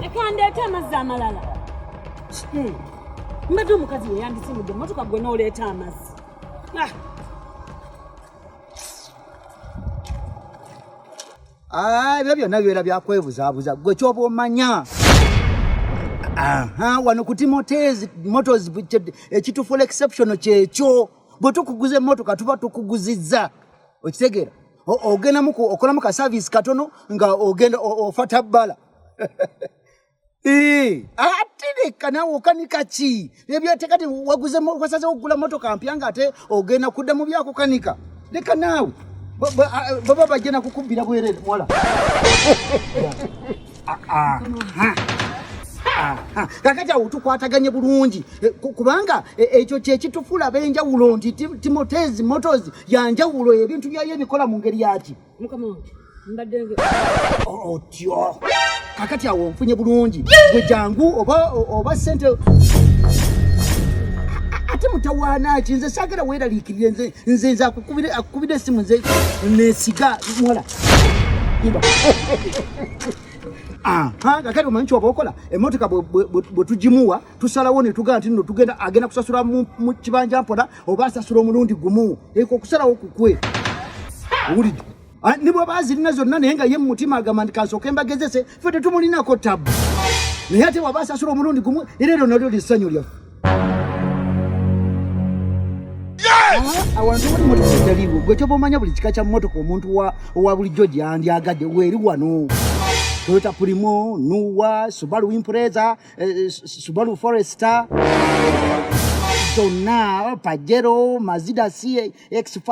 ekandeeta amazzi amalala hmm. mbadde omukazi weyandisimudde emotoka gwe nooleeta amazzi ah. Ah, ebyo byonna bibeera byakwebuzaabuza gwe kyoba omanya wano ku timotezi motors ekitufuula exception kyekyo bwe tukuguza emmotoka tuba tukuguzizza okitegeera ogendamu okolamu ka service katono nga ogenda ofata bala eh, atereka nawe okanika ki ebyatekati waguzewasaze okugula motoka mpya nga ate ogenda kudda mu byakukanika leka naawe baba bajja nakukubbira bwerere muwala kakati awo tukwataganye bulungi eh, kubanga eh, ekyo kyekitufula benjawulo nti timotezi motos yanjawulo ebintu byayo ebikola mu ngeri yaki otyo kakati awo nfunye bulungi gwe jangu oba sente ate mutawaana ki nze sagala weeraliikirire nze nze nze akukubira esimu nze nesiga muwala kakati omanyi kyoba okola emotoka bwetugimuwa tusalawo netugaa nti no tugenda agenda kusasula mu kibanja mpola oba asasula omulundi gumu eko okusalawo kukwe owulidde ah, nibwaba azirina zonna naye nga ye mumutima agamba nti kansooka embagezese fe tetumulinako tabu naye ate waba asasula omulundi gumu era eryo nalyo lyessanyu lyaffe awantu wali motoka etaliiwo gwe kyoba omanya buli kika kya motoka omuntu owa bulijjo gyandyagadde weeri wano toyota pulimo nuwa subalu impreza eh, subalu foresta zonna pajero mazida ca X5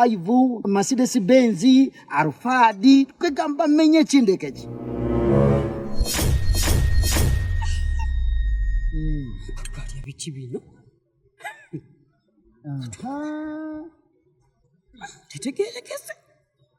Mercedes Benz Alphard kwegamba menye ekindeke eki tukalya biki bino tetegerekese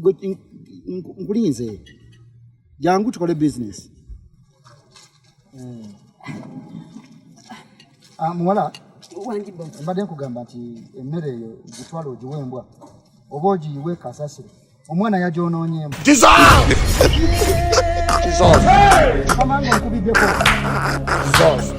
Gwe- n- n- nkulinze jangu tukole business Ah, muwala Wangi boss. mbadde nkugamba nti emmere eyo gitwala ogiwe embwa oba ogiyiwe kasasiro omwana yagyonoonyeemu Dissolve! Dissolve!